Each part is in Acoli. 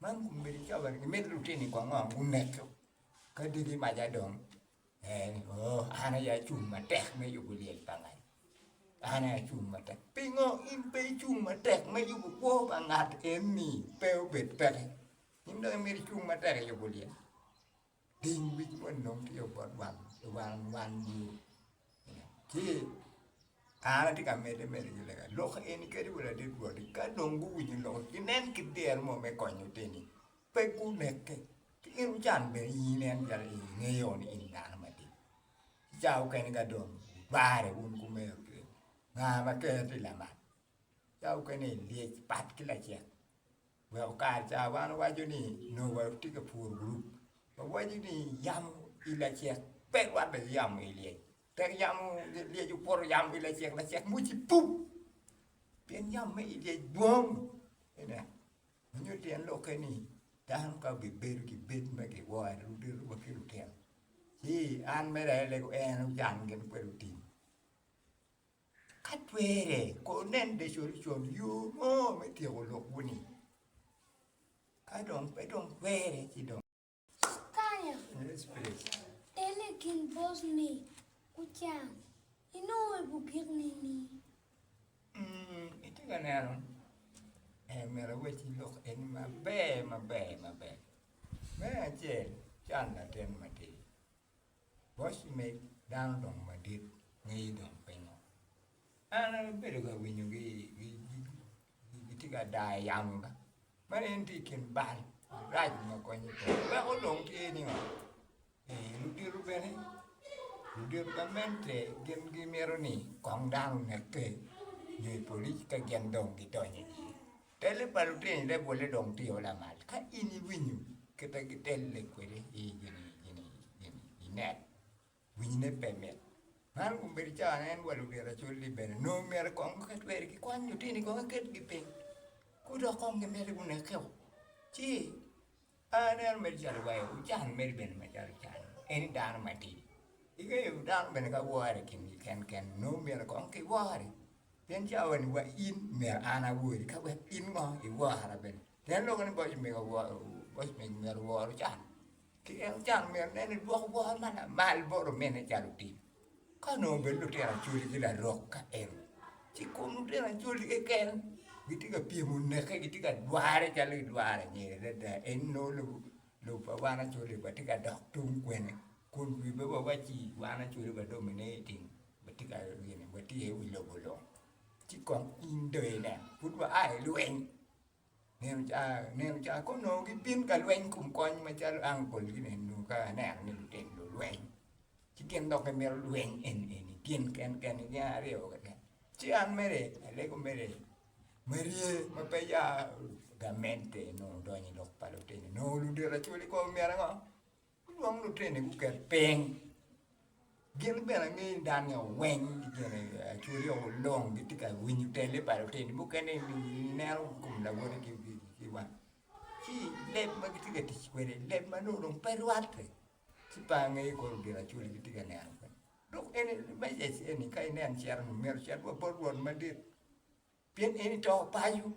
Man obedo coba ni mit lutini kong ong guneko ka dyegi maca dong ee ni oo an aye acung matek me yubo lyel pa ngani an aye acung matek pingo in pe icung matek me yubo kwo pa ngat eni pe obed peke in dong imito icung matek iyubo lyel. Piny wic moni dong tye obot wang wang wang yo ene ci an atye ka mede medo ki lega lok eni kadi wa ladit rwot ni ka dong guwinyo lok ni ginen ki dero mo me konyo teni pe guneke ci in wucan bene i yi nen calo in ingeyo ni in dano madit ki ca mukene ka dong gurare wun kumego kiri nga ma ker tye lamal ca mukene ilyec pat ki lacen. Weko kare ca wan waco ni nongo watye ka puro gurup ma waco ni yamo i lacek pe rwatte ki yamo i lyec tek yamo lyec okuto yamo i lacek lacek mucci puk pien yamo me i lyec dwong ineno ma nyo tyen lokke ni dano ka obibedo ki bed ma giwoo aye rwodde rwod ki lutino ci an mere aye leko en ocan gin kwede otim. Ka twere, kur nen bene colcol yo mo me tyeko lukwu-ni. Ka dong pe dong twere ci dong. Kanya, en i kin bosmi Ucam, inongo i bugik nini? Mm, itye ka neno? Eh, myero awec i lok eni maber maber maber. Me acel, can latin matir. Bot med dano dongo madit ngeye dong pingo? An abedo ka winyo gi gitye ka dayo yamo ga man en tye i kin bal marac ma konyo pe weko dong tye ni oo ludito bene ludito gamente gin gimito ni kong dano oneke nyo i polic ka gin dong gidonyo iye. Telle pa lutini leb welle dong tye o lamal ka in iwinyo kite gi telle kwede i gini gini gini i net winyi ne pe mit man kong bedo cawa ne en wa lubira acol ni bene nongo myero kong guket kweri ki kwany lutini kong iket gi piny gudok kong gimeli guneke o ci Pe aneno mere calo wai, wucan mere bene macalo wucan, en ni dano matir. Ingeyo dano bene ka wore i kingi kenken nongo myero kong ki wore, pien cawa ni wa in myero an awori ka wek in ngo iwora bene. Pien lwongo ni boc omego woro boc omego myero owor ocan, ki en ocan myero nen ni dwoko wor ma lamal bot omene calo otim. Ka onongo bed lutino Acholi ki larok ka en, ci kom lutino Acholi keken gitye ka pyemo neke, gitye ka dwarre calo gidwaro anyira adada. Ento nongo lobo pa wan Acholi watye ka dok tung kwene kun wi pe wawaci wan Acholi wa dong omine niting, watye ka watye aye i wi lobo long. Ci kong in dong inen pud waa i lweny. Nino ca nino ca ka onongo gibin ka lweny kom kony macalo angol gi ni eni ka aneno ni lutino lulweny ci gin dok gimito lweny eni eni gin ken ken ni gin aryo keken ci an mere alego mere marye ma pe ya gamente nongo odonyo i lok pa lutini nongo ludito acwali kong omyero ango Gulwong lutini gukel piny. Gin bene ngeyo dano ni owiny ki gin acwali o long gitye ka winyo tele pa lutini mukene ineno i kom lawoti ki wang ci leb ma gitye ka tic kwede leb ma nongo dong pe rwatte ci pe angeyo kono gin acwali gitye ka neno kwede dok eni me yec eni ka ineno cito-ni myero cit wabot rwot madit. Pien eni to paco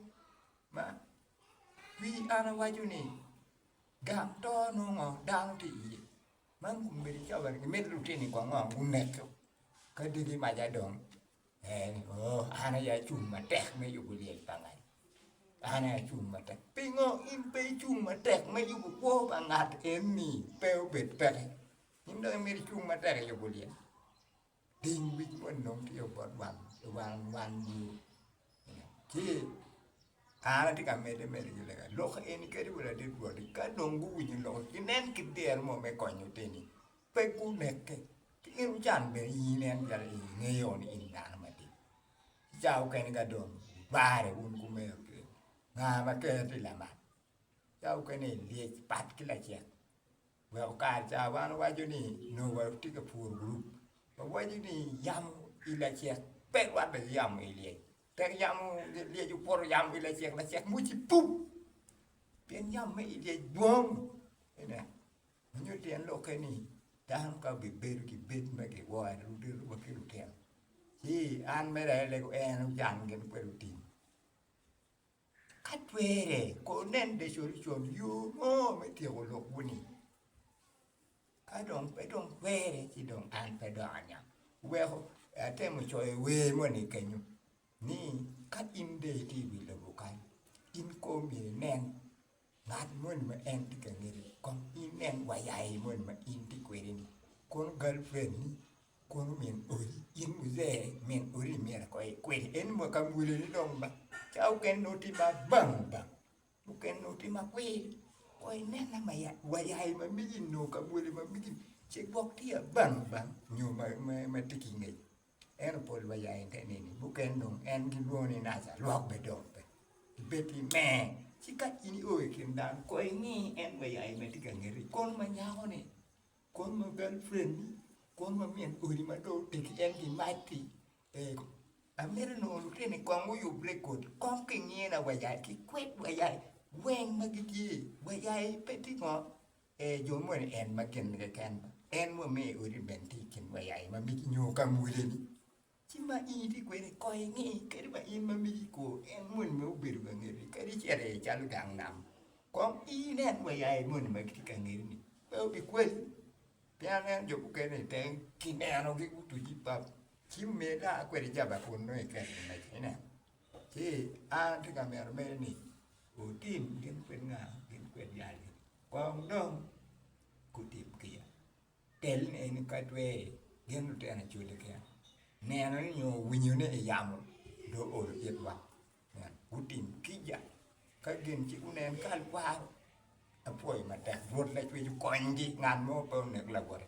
ma wi an awaco ni, gang to nongo dano tye iye. Man obedo cawaran ki mit lutini go ango guneko ka diki maca dong en ni ooh an aye acung matek me yubo lyel pa ngat, an aye acung matek. Pingo in pe icung matek me yubo kwo pa ngat eni pe obed peke in dong imito icung matek iyubo lyel? Piny wic moni dong tye obot wang wang wang bur ci an atye ka medde medo ki lega lok eni kadi wa ladit woti ka dong guwinyo lok eni ginen ki der mo me konyo oteni pe guneke ci in wucan bene i yi nen calo in ingeyo ni in dano matir ki ca mukene ka dong wubare wun kumeno kiri nga ma ker tye lamak ca mukene ilyec pat ki lacek wek okar ca wan owaco ni nongo wa tye ka puro gurup wawaco ni yamo i lacek pe rwatte ki yamo i lyec tek yamo lyec okuto yamo i lacek lacek muc ci pum pien yamo me i lyec dwong ene ma nyo tyen lokke ni dano ka obibedo ki bed ma giworo ene rute wa ki lutino ci an mere aye leko en ocang gin kwede otim Ka twere, kono nen de colcol yo mo me tyeko lok-wu-ni. Ka dong pe dong twere, ci dong an pe dok aniang. Weko atemo coyo i wer moni kenyo ni, ka in de itye i wi lobo kany, in kong myero inen. Ngat moni ma en tye ka ngeti kong inen wa ya i moni ma in itye kwede ni kono gal friend ni kono min odi in muzee min odi ni myero ko ikwedi en wa ka mwolo ni dong ba ca mukene nongo tye ma bang bang mukene nongo tye ma kwir ko inen na wa ya i ma megi ni nongo ka mwolo ma megi ni cik bok tye ya bang bang nyo ma tye ki ngec Ento pol wa ya i te neni, mukene dong en gilwongo ni Naca, lwak bene dong pe. Ibed i me, ci ka in io i kin dano, kong ingi en wa ya me tye ka ngeti, kono ma nyako ni, kono ma gal friend ni, kono ma min odi ma dong otegi en gi mac ki, ego. Amito nongo lutino ni kong guyub record, kong ki ngina wa ya, ki kwed wa ya, weng ma gitye, wa ya pe tye ngo. Ee, jo moni ni en ma kingi keken, en mo me i odi bene tye i kin wa ya i ma migi nyo ka mwoleni. Ci ma in itye kwede, kong inge kadi wa in ma migi kwo, en moni ma obedo ka ngeti, kadi icito iye calo gang nam, kong inen wa ya i moni ma gitye ka ngeti ni, pe obikweli. Pien aneno jo mukene i tenge kinenogi gutuc ni pap, ci omyero dong a kwed ijaba kun nongo iketgi meca, ineno. Ci an atye ka mito medde ni wutim gin kwed nga? Gin kwed jal ni kong dong gutim kiya. Tel ni eni ka tweri gin lutino acwali kiya neno ni nyo winyo ni yamo dong oolo itwa myero gutim kica ka gin ci gunen kal kwaro. Apwoyo matek Rwot Lacwec okonygi ngat mo pe onek lawote.